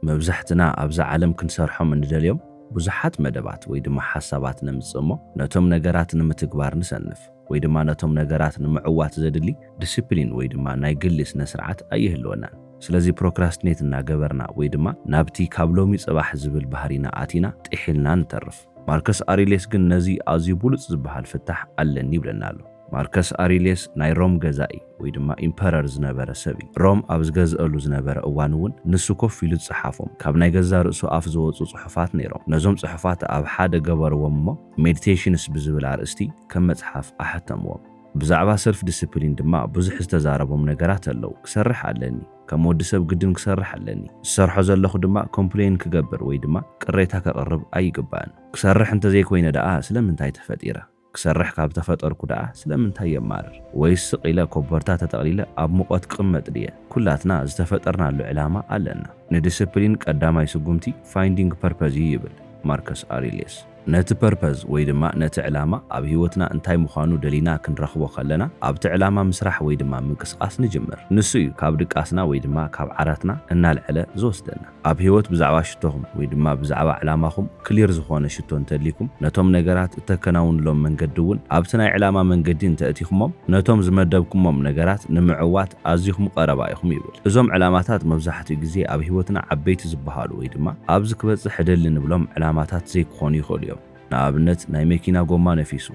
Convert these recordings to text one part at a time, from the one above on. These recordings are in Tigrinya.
መብዛሕትና ኣብዛ ዓለም ክንሰርሖም እንደልዮም ብዙሓት መደባት ወይ ድማ ሓሳባት ነምጽእ እሞ ነቶም ነገራት ንምትግባር ንሰንፍ ወይ ድማ ነቶም ነገራት ንምዕዋት ዘድሊ ድስፕሊን ወይ ድማ ናይ ግሊ ስነስርዓት ኣይህልወናን ስለዚ ፕሮክራስትኔት እናገበርና ወይ ድማ ናብቲ ካብ ሎሚ ጽባሕ ዝብል ባህሪና ኣቲና ጢሒልና ንተርፍ። ማርከስ ኣሪሌስ ግን ነዚ ኣዝዩ ብሉጽ ዝበሃል ፍታሕ ኣለኒ ይብለና ኣሎ። ማርከስ ኣሪሌስ ናይ ሮም ገዛኢ ወይ ድማ ኢምፐረር ዝነበረ ሰብ እዩ። ሮም ኣብ ዝገዝእሉ ዝነበረ እዋን እውን ንሱ ኮፍ ኢሉ ዝጸሓፎም ካብ ናይ ገዛእ ርእሱ ኣፍ ዝወጹ ጽሑፋት ነይሮም። ነዞም ጽሑፋት ኣብ ሓደ ገበርዎም እሞ ሜዲቴሽንስ ብዝብል ኣርእስቲ ከም መጽሓፍ ኣሐተምዎም። ብዛዕባ ሰልፍ ዲሲፕሊን ድማ ብዙሕ ዝተዛረቦም ነገራት ኣለዉ። ክሰርሕ ኣለኒ። ከም ወዲ ሰብ ግድን ክሰርሕ ኣለኒ። ዝሰርሖ ዘለኹ ድማ ኮምፕለይን ክገብር ወይ ድማ ቅሬታ ከቕርብ ኣይግባእን። ክሰርሕ እንተዘይኮይነ ደኣ ስለምንታይ ተፈጢረ? ክሰርሕ ካብ ተፈጠርኩ ደኣ ስለምንታይ የማርር? ወይስ ስቕ ኢለ ኮቦርታ ተጠቕሊለ ኣብ ሙቐት ክቕመጥ ድየ? ኩላትና ዝተፈጠርናሉ ዕላማ ኣለና። ንድስፕሊን ቀዳማይ ስጉምቲ ፋይንዲንግ ፐርፐዝ እዩ ይብል ማርከስ ኣሪልየስ። ነቲ ፐርፐዝ ወይ ድማ ነቲ ዕላማ ኣብ ህይወትና እንታይ ምዃኑ ደሊና ክንረኽቦ ከለና ኣብቲ ዕላማ ምስራሕ ወይ ድማ ምንቅስቓስ ንጅምር። ንሱ እዩ ካብ ድቃስና ወይ ድማ ካብ ዓራትና እናልዐለ ዝወስደና። ኣብ ህይወት ብዛዕባ ሽቶኹም ወይ ድማ ብዛዕባ ዕላማኹም ክሊር ዝኾነ ሽቶ እንተልይኩም ነቶም ነገራት እተከናውንሎም መንገዲ እውን ኣብቲ ናይ ዕላማ መንገዲ እንተእቲኹሞም ነቶም ዝመደብኩሞም ነገራት ንምዕዋት ኣዚኹም ቐረባ ኢኹም ይብል። እዞም ዕላማታት መብዛሕትኡ ግዜ ኣብ ህይወትና ዓበይቲ ዝበሃሉ ወይ ድማ ኣብዚ ክበጽሕ እደሊ ንብሎም ዕላማታት ዘይክኾኑ ይኽእሉ እዮም። ንኣብነት ናይ መኪና ጎማ ነፊሱ።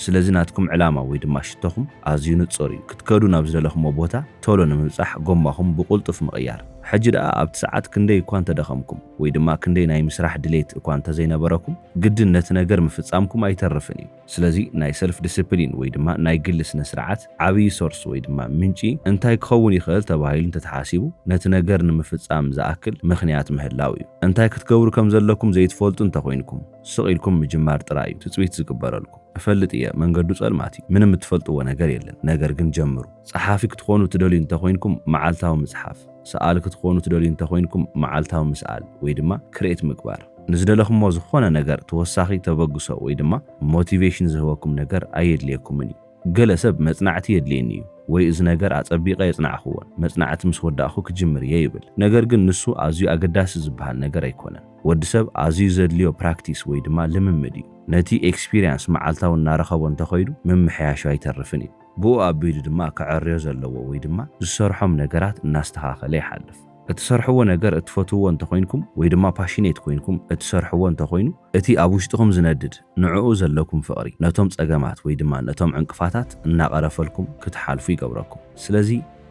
ስለዚ ናትኩም ዕላማ ወይ ድማ ሽቶኹም ኣዝዩ ንጹር እዩ፣ ክትከዱ ናብ ዝደለኹምዎ ቦታ ቶሎ ንምብጻሕ ጎማኹም ብቕልጡፍ ምቕያር። ሕጂ ደኣ ኣብቲ ሰዓት ክንደይ እኳ እንተደኸምኩም ወይ ድማ ክንደይ ናይ ምስራሕ ድሌት እኳ እንተዘይነበረኩም ግድን ነቲ ነገር ምፍጻምኩም ኣይተርፍን እዩ። ስለዚ ናይ ሰልፍ ድስፕሊን ወይ ድማ ናይ ግሊ ስነ ስርዓት ዓብዪ ሶርስ ወይ ድማ ምንጪ እንታይ ክኸውን ይኽእል ተባሂሉ እንተተሓሲቡ ነቲ ነገር ንምፍፃም ዝኣክል ምኽንያት ምህላው እዩ። እንታይ ክትገብሩ ከም ዘለኩም ዘይትፈልጡ እንተኾይንኩም ስቕ ኢልኩም ምጅማር ጥራይ እዩ ትፅቢት ዝግበረልኩም። እፈልጥ እየ መንገዱ ፀልማት እዩ ምንም እትፈልጥዎ ነገር የለን ነገር ግን ጀምሩ። ፀሓፊ ክትኾኑ እትደልዩ እንተኾይንኩም መዓልታዊ ምፅሓፍ። ሰኣሊ ክትኾኑ ትደልዩ እንተኾይንኩም መዓልታዊ ምስኣል ወይ ድማ ክርኤት ምግባር ንዝደለኹሞ ዝኾነ ነገር ተወሳኺ ተበግሶ ወይ ድማ ሞቲቬሽን ዝህበኩም ነገር ኣየድልየኩምን እዩ። ገለ ሰብ መጽናዕቲ የድልየኒ እዩ ወይ እዚ ነገር ኣጸቢቐ ኣየጽናዕኹዎን መጽናዕቲ ምስ ወዳእኹ ክጅምር እየ ይብል። ነገር ግን ንሱ ኣዝዩ ኣገዳሲ ዝበሃል ነገር ኣይኮነን። ወዲ ሰብ ኣዝዩ ዘድልዮ ፕራክቲስ ወይ ድማ ልምምድ እዩ። ነቲ ኤክስፒርያንስ መዓልታዊ እናረኸቦ እንተኸይዱ ምምሕያሹ ኣይተርፍን እዩ። ብኡ ኣቢሉ ድማ ከዐርዮ ዘለዎ ወይ ድማ ዝሰርሖም ነገራት እናስተኻኸለ ይሓልፍ። እትሰርሕዎ ነገር እትፈትውዎ እንተኾይንኩም ወይ ድማ ፓሽኔት ኮይንኩም እትሰርሕዎ እንተኾይኑ እቲ ኣብ ውሽጥኹም ዝነድድ ንዕኡ ዘለኩም ፍቕሪ ነቶም ጸገማት ወይ ድማ ነቶም ዕንቅፋታት እናቐረፈልኩም ክትሓልፉ ይገብረኩም። ስለዚ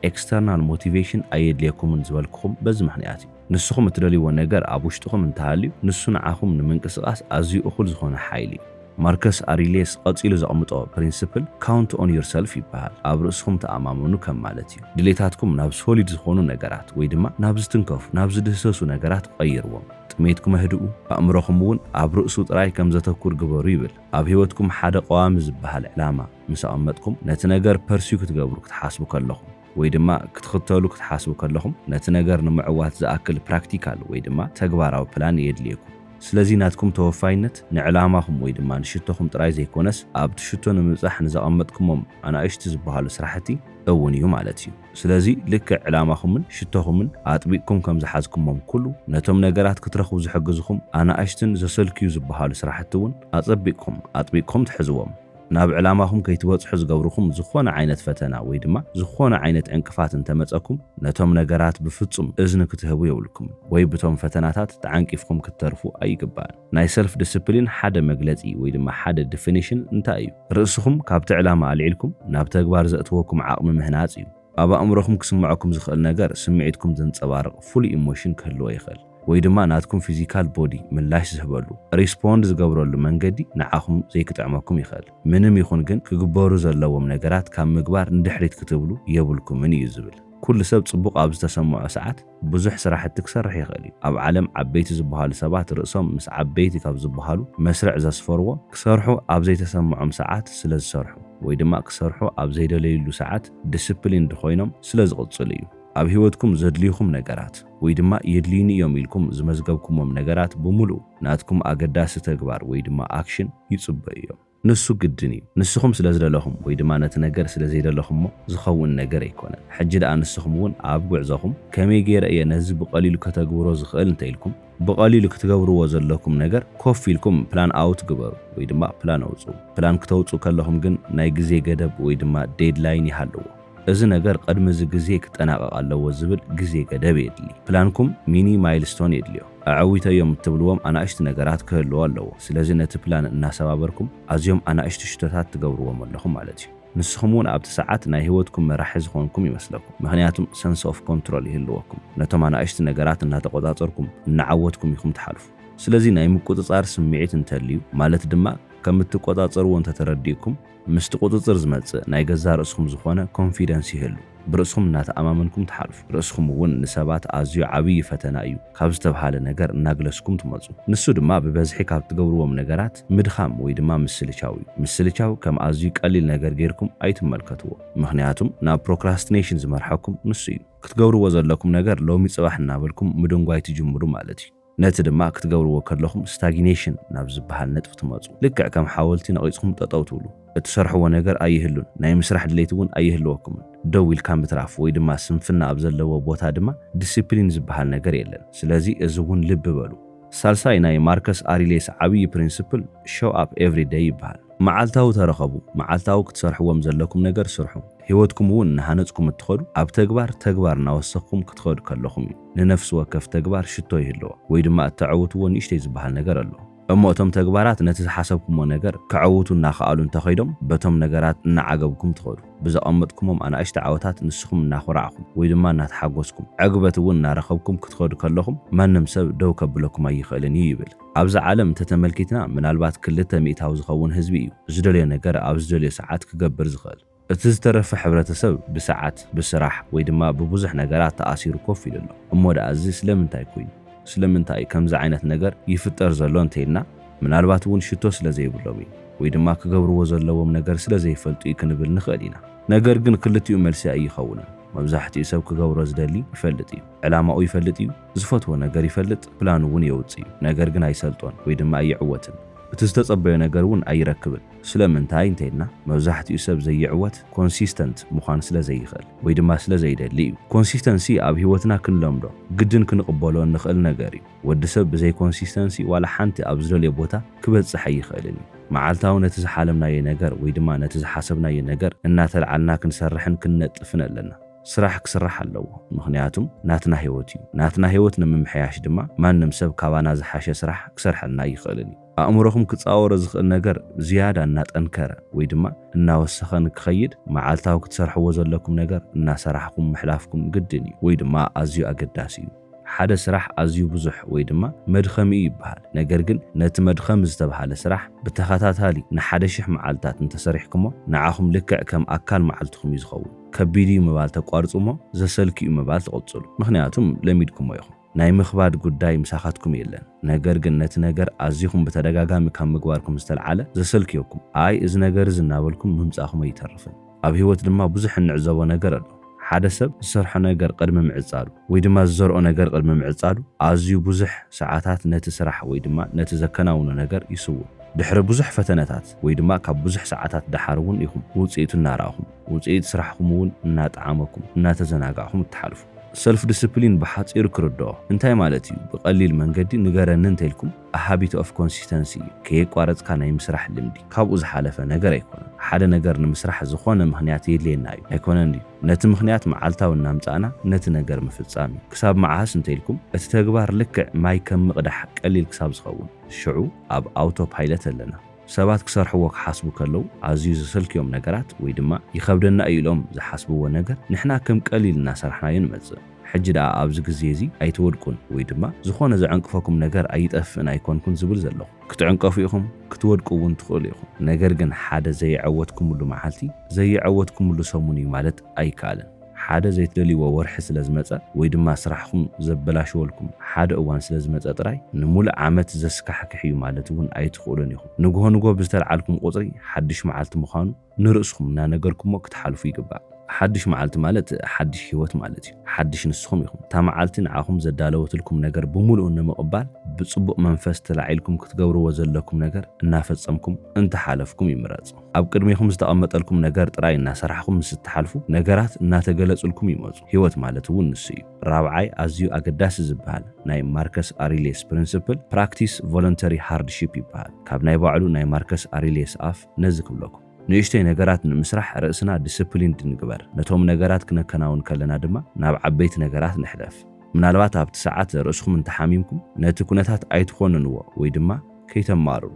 ኤክስተርናል ሞቲቬሽን ኣየድልየኩምን ዝበልኩኹም በዚ ምኽንያት እዩ። ንስኹም እትደልይዎ ነገር ኣብ ውሽጥኹም እንተሃልዩ ንሱ ንዓኹም ንምንቅስቓስ ኣዝዩ እኹል ዝኾነ ሓይሊ እዩ። ማርከስ ኣሪልየስ ቐጺሉ ዘቕምጦ ፕሪንስፕል ካውንት ኦን ዩር ሰልፍ ይበሃል። ኣብ ርእስኹም ተኣማመኑ ከም ማለት እዩ። ድሌታትኩም ናብ ሶሊድ ዝኾኑ ነገራት ወይ ድማ ናብ ዝትንከፉ፣ ናብ ዝድህሰሱ ነገራት ቐይርዎም። ጥሜትኩም ኣህድኡ፣ ኣእምሮኹም እውን ኣብ ርእሱ ጥራይ ከም ዘተኩር ግበሩ ይብል። ኣብ ህይወትኩም ሓደ ቐዋሚ ዝበሃል ዕላማ ምስ ኣቐመጥኩም፣ ነቲ ነገር ፐርሲው ክትገብሩ ክትሓስቡ ከለኹም፣ ወይ ድማ ክትኽተሉ ክትሓስቡ ከለኹም ነቲ ነገር ንምዕዋት ዝኣክል ፕራክቲካል ወይ ድማ ተግባራዊ ፕላን የድልየኩም። ስለዚ ናትኩም ተወፋይነት ንዕላማኹም ወይ ድማ ንሽቶኹም ጥራይ ዘይኮነስ ኣብቲ ሽቶ ንምብጻሕ ንዘቐመጥኩሞም ኣናእሽቲ ዝበሃሉ ስራሕቲ እውን እዩ ማለት እዩ። ስለዚ ልክዕ ዕላማኹምን ሽቶኹምን ኣጥቢቕኩም ከም ዝሓዝኩሞም ኩሉ ነቶም ነገራት ክትረኽቡ ዝሕግዝኹም ኣናእሽትን ዘሰልክዩ ዝበሃሉ ስራሕቲ እውን ኣጸቢቕኩም ኣጥቢቕኩም ትሕዝዎም። ናብ ዕላማኹም ከይትበጽሑ ዝገብርኩም ዝኾነ ዓይነት ፈተና ወይ ድማ ዝኾነ ዓይነት ዕንቅፋት እንተመጸኩም ነቶም ነገራት ብፍጹም እዝኒ ክትህቡ የብልኩምን ወይ ብቶም ፈተናታት ተዓንቂፍኩም ክትተርፉ ኣይግባእን። ናይ ሰልፍ ድስፕሊን ሓደ መግለጺ ወይ ድማ ሓደ ድፍኒሽን እንታይ እዩ? ርእስኹም ካብቲ ዕላማ ኣልዒልኩም ናብ ተግባር ዘእትወኩም ዓቕሚ ምህናጽ እዩ። ኣብ ኣእምሮኹም ክስመዐኩም ዝኽእል ነገር ስምዒትኩም ዘንጸባርቕ ፍሉይ ኢሞሽን ክህልዎ ይኽእል። ወይ ድማ ናትኩም ፊዚካል ቦዲ ምላሽ ዝህበሉ፣ ሪስፖንድ ዝገብረሉ፣ መንገዲ ንዓኹም ዘይክጥዕመኩም ይኽእል። ምንም ይኹን ግን ክግበሩ ዘለዎም ነገራት ካብ ምግባር ንድሕሪት ክትብሉ የብልኩምን እዩ ዝብል። ኩሉ ሰብ ጽቡቕ ኣብ ዝተሰምዖ ሰዓት ብዙሕ ስራሕቲ ክሰርሕ ይኽእል እዩ። ኣብ ዓለም ዓበይቲ ዝበሃሉ ሰባት ርእሶም ምስ ዓበይቲ ካብ ዝበሃሉ መስርዕ ዘስፈርዎ ክሰርሑ ኣብ ዘይተሰምዖም ሰዓት ስለ ዝሰርሑ ወይ ድማ ክሰርሑ ኣብ ዘይደለይሉ ሰዓት ዲሲፕሊንድ ኮይኖም ስለ ዝቕጽሉ እዩ። ኣብ ህይወትኩም ዘድልዩኹም ነገራት። ወይ ድማ የድልዩኒ እዮም ኢልኩም ዝመዝገብኩሞም ነገራት ብምሉኡ ናትኩም ኣገዳሲ ተግባር ወይ ድማ ኣክሽን ይጽበዩ እዮም። ንሱ ግድን እዩ። ንስኹም ስለ ዝደለኹም ወይ ድማ ነቲ ነገር ስለ ዘይደለኹሞ ዝኸውን ነገር ኣይኮነን። ሕጂ ደኣ ንስኹም እውን ኣብ ጉዕዞኹም ከመይ ገይረ እየ ነዚ ብቐሊሉ ከተግብሮ ዝኽእል እንተኢልኩም ብቐሊሉ ክትገብርዎ ዘለኩም ነገር ኮፍ ኢልኩም ፕላን ኣውት ግበሩ ወይ ድማ ፕላን ኣውጽኡ። ፕላን ክተውጽኡ ከለኹም ግን ናይ ግዜ ገደብ ወይ ድማ ዴድላይን ይሃልዎ። እዚ ነገር ቐድሚ እዚ ግዜ ክጠናቐቕ ኣለዎ ዝብል ግዜ ገደብ የድሊ። ፕላንኩም ሚኒ ማይልስቶን የድልዮ። ኣዐዊተዮም እትብልዎም ኣናእሽቲ ነገራት ክህልዎ ኣለዎ። ስለዚ ነቲ ፕላን እናሰባበርኩም ኣዝዮም ኣናእሽቲ ሽቶታት ትገብርዎም ኣለኹም ማለት እዩ። ንስኹም እውን ኣብቲ ሰዓት ናይ ህይወትኩም መራሒ ዝኾንኩም ይመስለኩም። ምኽንያቱም ሰንስ ኦፍ ኮንትሮል ይህልወኩም። ነቶም ኣናእሽቲ ነገራት እናተቖጻጸርኩም፣ እናዓወትኩም ኢኹም ትሓልፉ። ስለዚ ናይ ምቁጽጻር ስምዒት እንተልዩ ማለት ድማ ከም እትቆጻጸርዎ እንተተረዲእኩም፣ ምስቲ ቁጽጽር ዝመጽእ ናይ ገዛእ ርእስኹም ዝኾነ ኮንፊደንስ ይህሉ። ብርእስኹም እናተኣማመንኩም ትሓልፉ። ርእስኹም እውን ንሰባት ኣዝዩ ዓብዪ ፈተና እዩ ካብ ዝተብሃለ ነገር እናግለስኩም ትመጹ። ንሱ ድማ ብበዝሒ ካብ እትገብርዎም ነገራት ምድኻም ወይ ድማ ምስልቻው እዩ። ምስልቻው ከም ኣዝዩ ቀሊል ነገር ገይርኩም ኣይትመልከትዎ። ምኽንያቱም ናብ ፕሮክራስቲኔሽን ዝመርሐኩም ንሱ እዩ። ክትገብርዎ ዘለኩም ነገር ሎሚ ጽባሕ እናበልኩም ምድንጓይ ትጅምሩ ማለት እዩ። ነቲ ድማ ክትገብርዎ ከለኹም ስታጊኔሽን ናብ ዝበሃል ነጥቢ ትመጹ። ልክዕ ከም ሓወልቲ ነቒጽኩም ጠጠው ትብሉ። እትሰርሕዎ ነገር ኣይህሉን፣ ናይ ምስራሕ ድሌት እውን ኣይህልወኩምን። ደው ኢልካ ምትራፍ ወይ ድማ ስንፍና ኣብ ዘለዎ ቦታ ድማ ዲሲፕሊን ዝበሃል ነገር የለን። ስለዚ እዚ እውን ልቢ በሉ። ሳልሳይ ናይ ማርከስ ኣሪሌስ ዓብዪ ፕሪንስፕል ሾው ኣፕ ኤቭሪ ደይ ይበሃል። መዓልታዊ ተረኸቡ፣ መዓልታዊ ክትሰርሕዎም ዘለኩም ነገር ስርሑ። ህይወትኩም እውን እናሃነጽኩም እትኸዱ ኣብ ተግባር ተግባር እናወሰኽኩም ክትኸዱ ከለኹም እዩ። ንነፍሲ ወከፍ ተግባር ሽቶ ይህልዎ ወይ ድማ እተዐውትዎ ንእሽተይ ዝበሃል ነገር ኣሎ። እሞ እቶም ተግባራት ነቲ ዝሓሰብኩሞ ነገር ከዐውቱ እናኸኣሉ እንተኸይዶም በቶም ነገራት እናዓገብኩም ትኸዱ። ብዘቐመጥኩሞም ኣናእሽቲ ዓወታት ንስኹም እናኾራዕኹም ወይ ድማ እናተሓጎስኩም ዕግበት እውን እናረኸብኩም ክትኸዱ ከለኹም ማንም ሰብ ደው ከብለኩም ኣይኽእልን እዩ ይብል። ኣብዛ ዓለም እንተተመልኪትና ምናልባት ክልተ ሚእታዊ ዝኸውን ህዝቢ እዩ ዝደልዮ ነገር ኣብ ዝደልዮ ሰዓት ክገብር ዝኽእል። እቲ ዝተረፈ ሕብረተሰብ ብሰዓት፣ ብስራሕ ወይ ድማ ብብዙሕ ነገራት ተኣሲሩ ኮፍ ኢሉ ኣሎ። እሞ ደኣ እዚ ስለምንታይ ኩይኑ? ስለምንታይ'ዩ ከምዚ ዓይነት ነገር ይፍጠር ዘሎ እንተይልና፣ ምናልባት እውን ሽቶ ስለዘይብሎም እዩ ወይ ድማ ክገብርዎ ዘለዎም ነገር ስለዘይፈልጡ እዩ ክንብል ንኽእል ኢና። ነገር ግን ክልቲኡ መልሲ ኣይይኸውንን። መብዛሕትኡ ሰብ ክገብሮ ዝደሊ ይፈልጥ እዩ። ዕላማኡ ይፈልጥ እዩ። ዝፈትዎ ነገር ይፈልጥ፣ ፕላኑ እውን የውጽእ እዩ። ነገር ግን ኣይሰልጦን ወይ ድማ ኣይዕወትን። እቲ ዝተጸበዮ ነገር እውን ኣይረክብን። ስለምንታይ እንተይልና መብዛሕቲኡ ሰብ ዘይዕወት ኮንሲስተንት ምዃን ስለዘይኽእል ወይ ድማ ስለዘይደሊ እዩ። ኮንሲስተንሲ ኣብ ህይወትና ክንለምዶ ግድን ክንቕበሎ እንኽእል ነገር እዩ። ወዲ ሰብ ብዘይ ኮንሲስተንሲ ዋላ ሓንቲ ኣብ ዝደልዮ ቦታ ክበጽሕ ኣይኽእልን እዩ። መዓልታዊ ነቲ ዝሓለምናዮ ነገር ወይ ድማ ነቲ ዝሓሰብናዮ ነገር እናተልዓልና ክንሰርሕን ክንነጥፍን ኣለና። ስራሕ ክስራሕ ኣለዎ ምኽንያቱም ናትና ህይወት እዩ። ናትና ህይወት ንምምሕያሽ ድማ ማንም ሰብ ካባና ዝሓሸ ስራሕ ክሰርሐልና ኣይኽእልን እዩ። ኣእምሮኹም ክጻወሮ ዝኽእል ነገር ዝያዳ እናጠንከረ ወይ ድማ እናወሰኸ ንክኸይድ መዓልታዊ ክትሰርሕዎ ዘለኩም ነገር እናሰራሕኹም ምሕላፍኩም ግድን እዩ ወይ ድማ ኣዝዩ ኣገዳሲ እዩ። ሓደ ስራሕ ኣዝዩ ብዙሕ ወይ ድማ መድኸሚ እዩ ይበሃል። ነገር ግን ነቲ መድኸሚ ዝተብሃለ ስራሕ ብተኸታታሊ ንሓደ ሽሕ መዓልታት እንተሰሪሕክሞ ንዓኹም ልክዕ ከም ኣካል መዓልትኹም እዩ ዝኸውን። ከቢድ እዩ ምባል ተቋርጹ እሞ ዘሰልኪ እዩ ምባል ትቕጽሉ። ምኽንያቱም ለሚድኩሞ ኢኹም። ናይ ምኽባድ ጉዳይ ምሳኻትኩም የለን ነገር ግን ነቲ ነገር ኣዚኹም ብተደጋጋሚ ካብ ምግባርኩም ዝተልዓለ ዘሰልክዮኩም ኣይ እዚ ነገር እዚ እናበልኩም ምምጻኹም ኣይተርፍን ኣብ ሂወት ድማ ብዙሕ እንዕዘቦ ነገር ኣሎ ሓደ ሰብ ዝሰርሖ ነገር ቅድሚ ምዕጻዱ ወይ ድማ ዝዘርኦ ነገር ቅድሚ ምዕጻዱ ኣዝዩ ብዙሕ ሰዓታት ነቲ ስራሕ ወይ ድማ ነቲ ዘከናውኖ ነገር ይስውእ ድሕሪ ብዙሕ ፈተነታት ወይ ድማ ካብ ብዙሕ ሰዓታት ደሓር እውን ኢኹም ውጽኢቱ እናረኣኹም ውጽኢት ስራሕኹም እውን እናጠዓመኩም እናተዘናጋዕኹም እትሓልፉ። ሰልፍ ድስፕሊን ብሓጺሩ ክርድኦ እንታይ ማለት እዩ ብቀሊል መንገዲ ንገረኒ እንተልኩም a habit of consistency እዩ ከየቋረጽካ ናይ ምስራሕ ልምዲ ካብኡ ዝሓለፈ ነገር ኣይኮነን ሓደ ነገር ንምስራሕ ዝኾነ ምኽንያት የድልየና እዩ ኣይኮነን ድዩ ነቲ ምኽንያት መዓልታዊ እናምጻእና ነቲ ነገር ምፍጻም እዩ ክሳብ መዓስ እንተልኩም እቲ ተግባር ልክዕ ማይ ከም ምቅዳሕ ቀሊል ክሳብ ዝኸውን ሽዑ ኣብ ኣውቶ ፓይለት ኣለና ሰባት ክሰርሕዎ ክሓስቡ ከለዉ ኣዝዩ ዘሰልክዮም ነገራት ወይ ድማ ይኸብደና እዩ ኢሎም ዝሓስብዎ ነገር ንሕና ከም ቀሊል እናሰራሕናዮ ንመጽእ። ሕጂ ደኣ ኣብዚ ግዜ እዚ ኣይትወድቁን ወይ ድማ ዝኾነ ዘዐንቅፈኩም ነገር ኣይጠፍእን ኣይኮንኩን ዝብል ዘለኹ። ክትዕንቀፉ ኢኹም ክትወድቁ እውን ትኽእሉ ኢኹም። ነገር ግን ሓደ ዘየዐወትኩምሉ መዓልቲ ዘየዐወትኩምሉ ሰሙን እዩ ማለት ኣይከኣልን። ሓደ ዘይትደልይዎ ወርሒ ስለ ዝመጸ ወይ ድማ ስራሕኹም ዘበላሽወልኩም ሓደ እዋን ስለ ዝመጸ ጥራይ ንሙሉእ ዓመት ዘስካሕክሕ እዩ ማለት እውን ኣይትኽእሉን ኢኹም። ንግሆ ንግሆ ብዝተልዓልኩም ቁጽሪ ሓድሽ መዓልቲ ምዃኑ ንርእስኹም እናነገርኩሞ ክትሓልፉ ይግባእ። ሓድሽ መዓልቲ ማለት ሓድሽ ህይወት ማለት እዩ። ሓድሽ ንስኹም ኢኹም። እታ መዓልቲ ንዓኹም ዘዳለወትልኩም ነገር ብሙሉኡ ንምቕባል ብጽቡቕ መንፈስ ተላዒልኩም ክትገብርዎ ዘለኩም ነገር እናፈጸምኩም እንተሓለፍኩም ይምረጽ። ኣብ ቅድሜኹም ዝተቐመጠልኩም ነገር ጥራይ እናሰራሕኹም ምስ እትሓልፉ፣ ነገራት እናተገለጹልኩም ይመጹ። ህይወት ማለት እውን ንሱ እዩ። ራብዓይ ኣዝዩ ኣገዳሲ ዝበሃል ናይ ማርከስ ኣሪልየስ ፕሪንስፕል፣ ፕራክቲስ ቮለንተሪ ሃርድሺፕ ይበሃል። ካብ ናይ ባዕሉ ናይ ማርከስ ኣሪልየስ ኣፍ ነዚ ክብለኩም። ንእሽቶይ ነገራት ንምስራሕ ርእስና ዲስፕሊንድ ንግበር። ነቶም ነገራት ክነከናውን ከለና ድማ ናብ ዓበይቲ ነገራት ንሕለፍ። ምናልባት ኣብቲ ሰዓት ርእስኹም እንተሓሚምኩም፣ ነቲ ኩነታት ኣይትኾንንዎ ወይ ድማ ከይተማርሩ።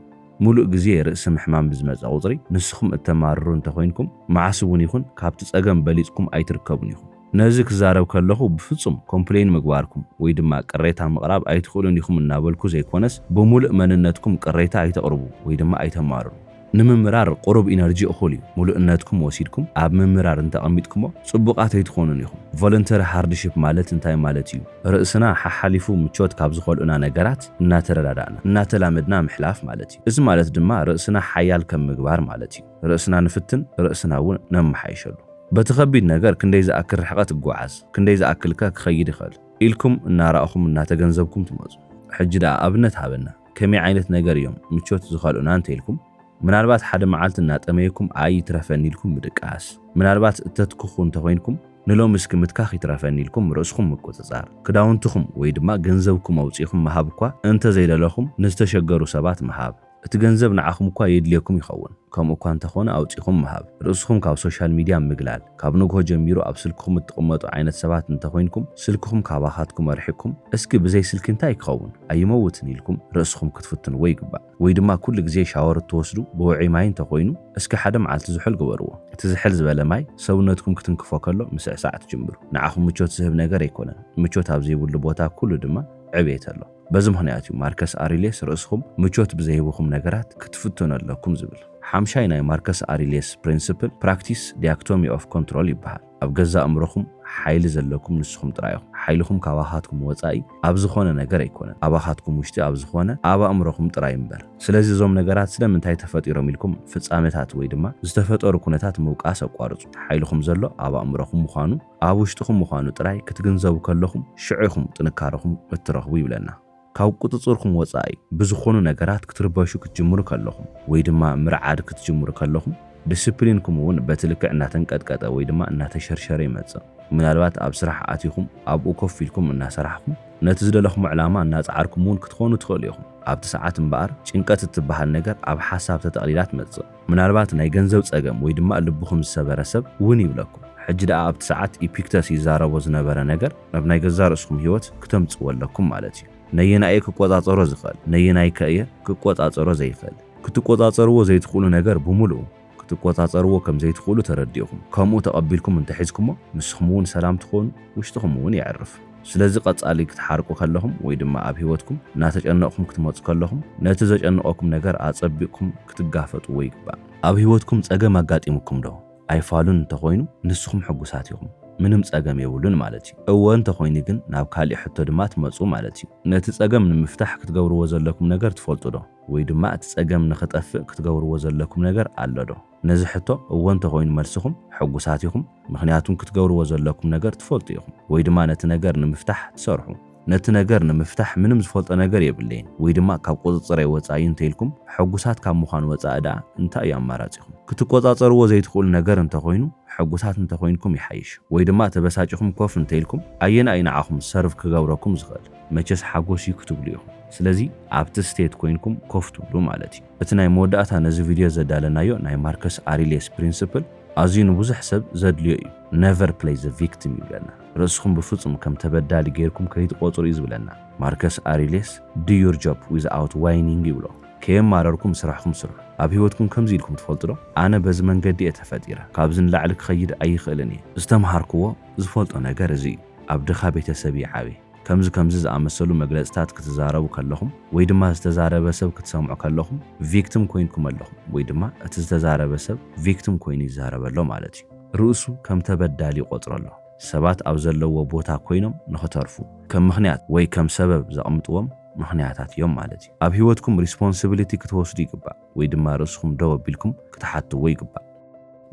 ምሉእ ግዜ ርእሲ ምሕማም ብዝመጸ ቁጽሪ ንስኹም እተማርሩ እንተ ኾይንኩም፣ መዓስ እውን ይኹን ካብቲ ጸገም በሊጽኩም ኣይትርከቡን ኢኹም። ነዚ ክዛረብ ከለኹ ብፍጹም ኮምፕለይን ምግባርኩም ወይ ድማ ቅሬታ ምቕራብ ኣይትኽእሉን ኢኹም እናበልኩ ዘይኮነስ፣ ብምሉእ መንነትኩም ቅሬታ ኣይተቕርቡ ወይ ድማ ኣይተማርሩ። ንምምራር ቁሩብ ኢነርጂ እኹል እዩ። ምሉእነትኩም ወሲድኩም ኣብ ምምራር እንተ ኣቐሚጥኩሞ ጽቡቓት ኣይትኾኑን ኢኹም። ቮለንተሪ ሃርድሺፕ ማለት እንታይ ማለት እዩ? ርእስና ሓሓሊፉ ምቾት ካብ ዝኸልኡና ነገራት እናተረዳዳእና፣ እናተላመድና ምሕላፍ ማለት እዩ። እዚ ማለት ድማ ርእስና ሓያል ከም ምግባር ማለት እዩ። ርእስና ንፍትን፣ ርእስና እውን ነመሓይሸሉ። በቲ ከቢድ ነገር ክንደይ ዝኣክል ርሕቐት እጎዓዝ፣ ክንደይ ዝኣክልከ ክኸይድ ይኸእል? ኢልኩም እናረኣኹም እናተገንዘብኩም ትመፁ። ሕጂ ደኣ ኣብነት ሃበና። ከመይ ዓይነት ነገር እዮም ምቾት ዝኸልኡና እንተይልኩም ምናልባት ሓደ መዓልቲ እናጠመየኩም ኣይ ይትረፈኒ ኢልኩም ምድቃስ፣ ምናልባት እተትክኹ እንተኾይንኩም ንሎሚ እስኪ ምትካኽ ይትረፈኒ ኢልኩም ርእስኹም ምቁጽጻር፣ ክዳውንትኹም ወይ ድማ ገንዘብኩም ኣውጺእኹም ምሃብ እኳ እንተዘይደለኹም ንዝተሸገሩ ሰባት ምሃብ፣ እቲ ገንዘብ ንዓኹም እኳ የድልየኩም ይኸውን ከምኡ እኳ እንተኾነ ኣውጺእኹም ምሃብ፣ ርእስኹም ካብ ሶሻል ሚድያ ምግላል፣ ካብ ንግሆ ጀሚሩ ኣብ ስልክኹም እትቕመጡ ዓይነት ሰባት እንተኾይንኩም ስልክኹም ካባኻትኩም ኣርሒቕኩም እስኪ ብዘይ ስልኪ እንታይ ክኸውን ኣይመውትን ኢልኩም ርእስኹም ክትፍትንዎ ይግባእ። ወይ ድማ ኩሉ ግዜ ሻወር እትወስዱ ብውዑይ ማይ እንተኾይኑ እስከ ሓደ መዓልቲ ዝሑል ግበርዎ። እቲ ዝሕል ዝበለ ማይ ሰውነትኩም ክትንክፎ ከሎ ምስዕሳዕ ትጅምሩ። ንዓኹም ምቾት ዝህብ ነገር ኣይኮነን። ምቾት ኣብ ዘይብሉ ቦታ ኩሉ ድማ ዕብየት ኣሎ። በዚ ምኽንያት እዩ ማርከስ ኣሪልየስ ርእስኹም ምቾት ብዘይህቡኹም ነገራት ክትፍትኑ ኣለኩም ዝብል። ሓምሻይ ናይ ማርከስ ኣሪልየስ ፕሪንስፕል ፕራክቲስ ዲያክቶሚ ኦፍ ኮንትሮል ይበሃል። ኣብ ገዛእ እምሮኹም ሓይሊ ዘለኩም ንስኹም ጥራይ ኢኹም። ሓይልኹም ካባኻትኩም ወጻኢ ኣብ ዝኾነ ነገር ኣይኮነን። ኣባኻትኩም ውሽጢ ኣብ ዝኾነ ኣብ ኣእምሮኹም ጥራይ እምበር። ስለዚ እዞም ነገራት ስለምንታይ ተፈጢሮም ኢልኩም ፍጻመታት ወይ ድማ ዝተፈጠሩ ኩነታት ምውቃስ ኣቋርጹ። ሓይልኹም ዘሎ ኣብ ኣእምሮኹም ምዃኑ ኣብ ውሽጥኹም ምዃኑ ጥራይ ክትግንዘቡ ከለኹም ሽዑ ኢኹም ጥንካረኹም እትረኽቡ ይብለና። ካብ ቁጽጽርኩም ወጻኢ ብዝኾኑ ነገራት ክትርበሹ ክትጅምሩ ከለኹም ወይ ድማ ምርዓድ ክትጅምሩ ከለኹም ድስፕሊንኩም እውን በቲ ልክዕ እናተንቀጥቀጠ ወይ ድማ እናተሸርሸረ ይመጽእ። ምናልባት ኣብ ስራሕ ኣቲኹም ኣብኡ ኮፍ ኢልኩም እናሰራሕኹም ነቲ ዝደለኹሞ ዕላማ እናጸዓርኩም እውን ክትኾኑ ትኽእሉ ኢኹም። ኣብቲ ሰዓት እምበኣር ጭንቀት እትበሃል ነገር ኣብ ሓሳብ ተጠቕሊላ ትመጽእ። ምናልባት ናይ ገንዘብ ጸገም ወይ ድማ ልብኹም ዝሰበረ ሰብ ውን ይብለኩም። ሕጂ ደኣ ኣብቲ ሰዓት ኢፒክተስ ይዛረቦ ዝነበረ ነገር ናብ ናይ ገዛእ ርእስኹም ህይወት ክተምጽእዎ ኣለኩም ማለት እዩ። ነየናይ እየ ክቆጻጸሮ ዝኽእል? ነየናይከ እየ ክቆጻጸሮ ዘይኽእል? ክትቆጻጸርዎ ዘይትኽእሉ ነገር ብምሉኡ ክትቆጻጸርዎ ከም ዘይትኽእሉ ተረዲእኹም ከምኡ ተቐቢልኩም እንተሒዝኩሞ ንስኹም ውን ሰላም ትኾኑ ውሽጥኹም ውን የዕርፍ። ስለዚ ቀጻሊ ክትሓርቁ ከለኹም ወይ ድማ ኣብ ህይወትኩም እናተጨነቕኩም ክትመጹ ከለኹም ነቲ ዘጨንቐኩም ነገር ኣጸቢቕኩም ክትጋፈጥዎ ይግባእ። ኣብ ህይወትኩም ጸገም ኣጋጢሙኩም ዶ? ኣይፋሉን እንተኾይኑ ንስኹም ሕጉሳት ኢኹም ምንም ጸገም የብሉን ማለት እዩ። እወ እንተኾይኑ ግን ናብ ካሊእ ሕቶ ድማ ትመጹ ማለት እዩ። ነቲ ጸገም ንምፍታሕ ክትገብርዎ ዘለኩም ነገር ትፈልጡ ዶ? ወይ ድማ እቲ ጸገም ንኽጠፍእ ክትገብርዎ ዘለኩም ነገር ኣሎ ዶ? ነዚ ሕቶ እወ እንተኾይኑ መልስኹም ሕጉሳት ኢኹም፣ ምኽንያቱም ክትገብርዎ ዘለኩም ነገር ትፈልጡ ኢኹም ወይ ድማ ነቲ ነገር ንምፍታሕ ትሰርሑ። ነቲ ነገር ንምፍታሕ ምንም ዝፈልጦ ነገር የብለይን ወይ ድማ ካብ ቁጽጽረይ ወጻኢ እዩ እንተኢልኩም፣ ሕጉሳት ካብ ምዃን ወጻኢ ደኣ እንታይ እዩ ኣማራጺኹም? ክትቆጻጸርዎ ዘይትኽእሉ ነገር እንተኾይኑ ሕጉሳት እንተኾይንኩም ይሓይሽ ወይ ድማ ተበሳጪኹም ኮፍ እንተኢልኩም ኣየናይ እዩ ንዓኹም ሰርቭ ክገብረኩም ዝኽእል? መቸስ ሓጎስ እዩ ክትብሉ ኢኹም። ስለዚ ኣብቲ ስቴት ኮይንኩም ኮፍ ትብሉ ማለት እዩ። እቲ ናይ መወዳእታ ነዚ ቪድዮ ዘዳለናዮ ናይ ማርከስ ኣሪልየስ ፕሪንስፕል ኣዝዩ ንብዙሕ ሰብ ዘድልዮ እዩ። ነቨር ፕለይ ዘ ቪክቲም ይብለና። ርእስኹም ብፍጹም ከም ተበዳሊ ገይርኩም ከይትቖጽሩ እዩ ዝብለና። ማርከስ ኣሪልየስ ዱ ዩር ጆብ ዊዝ ኣውት ዋይኒንግ ይብሎ። ከየማረርኩም ስራሕኹም ስርሑ። ኣብ ህይወትኩም ከምዚ ኢልኩም ትፈልጡ ዶ? ኣነ በዚ መንገዲ እየ ተፈጢረ። ካብዚ ንላዕሊ ክኸይድ ኣይኽእልን እየ። ዝተምሃርክዎ ዝፈልጦ ነገር እዚ እዩ። ኣብ ድኻ ቤተሰብ እየ ዓብየ። ከምዚ ከምዚ ዝኣመሰሉ መግለጽታት ክትዛረቡ ከለኹም ወይ ድማ ዝተዛረበ ሰብ ክትሰምዑ ከለኹም ቪክትም ኮይንኩም ኣለኹም ወይ ድማ እቲ ዝተዛረበ ሰብ ቪክትም ኮይኑ ይዛረብ ኣሎ ማለት እዩ። ርእሱ ከም ተበዳሊ ይቖጽሮ ኣሎ። ሰባት ኣብ ዘለዉዎ ቦታ ኮይኖም ንኽተርፉ ከም ምኽንያት ወይ ከም ሰበብ ዘቕምጥዎም ምኽንያታት እዮም ማለት እዩ። ኣብ ህይወትኩም ሪስፖንስብሊቲ ክትወስዱ ይግባእ። ወይ ድማ ርእስኹም ደው ኣቢልኩም ክትሓትዎ ይግባእ።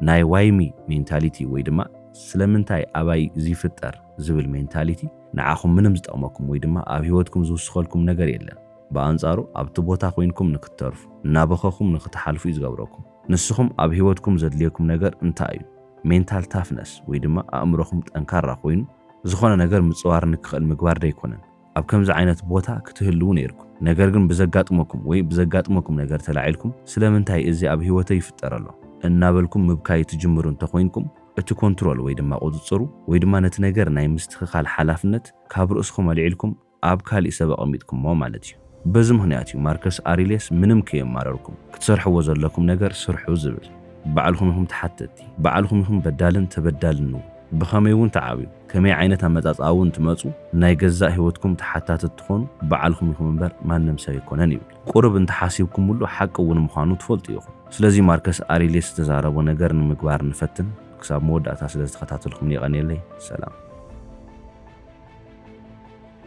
ናይ ዋይ ሚ ሜንታሊቲ ወይ ድማ ስለምንታይ ኣባይ እዚ ይፍጠር ዝብል ሜንታሊቲ ንዓኹም ምንም ዝጠቕመኩም ወይ ድማ ኣብ ህይወትኩም ዝውስኸልኩም ነገር የለን። ብኣንጻሩ ኣብቲ ቦታ ኮይንኩም ንክትተርፉ፣ እናበኸኹም ንክትሓልፉ እዩ ዝገብረኩም። ንስኹም ኣብ ህይወትኩም ዘድልየኩም ነገር እንታይ እዩ? ሜንታል ታፍነስ ወይ ድማ ኣእምሮኹም ጠንካራ ኮይኑ ዝኾነ ነገር ምጽዋር ንክኽእል ምግባር ዶ ኣይኮነን? ኣብ ከምዚ ዓይነት ቦታ ክትህልዉ ነይርኩም ነገር ግን ብዘጋጥመኩም ወይ ብዘጋጥመኩም ነገር ተላዒልኩም ስለምንታይ እዚ ኣብ ህይወተይ ይፍጠር ኣሎ እናበልኩም ምብካይ ትጅምሩ እንተኾይንኩም እቲ ኮንትሮል ወይ ድማ ቁፅፅሩ ወይ ድማ ነቲ ነገር ናይ ምስትኽኻል ሓላፍነት ካብ ርእስኹም ኣልዒልኩም ኣብ ካሊእ ሰብ ኣቐሚጥኩሞ ማለት እዩ። በዚ ምኽንያት እዩ ማርከስ ኣሪሌስ ምንም ከየማረርኩም ክትሰርሕዎ ዘለኩም ነገር ስርሑ ዝብል። ባዕልኹም ኢኹም ተሓተትቲ፣ ባዕልኹም ኢኹም በዳልን ተበዳልን'ውን። ብኸመይ እውን ተዓብዩ ከመይ ዓይነት ኣመጻጽኣ እውን ትመጹ ናይ ገዛእ ህይወትኩም ተሓታቲ እትኾኑ ባዕልኹም ኢኹም እምበር ማንም ሰብ ኣይኮነን ይብል። ቁርብ እንተሓሲብኩምሉ ሓቂ እውን ምዃኑ ትፈልጡ ኢኹም። ስለዚ ማርከስ ኣሪልየስ ዝተዛረቦ ነገር ንምግባር ንፈትን። ክሳብ መወዳእታ ስለዝተኸታተልኩምኒ የቐንየለይ። ሰላም።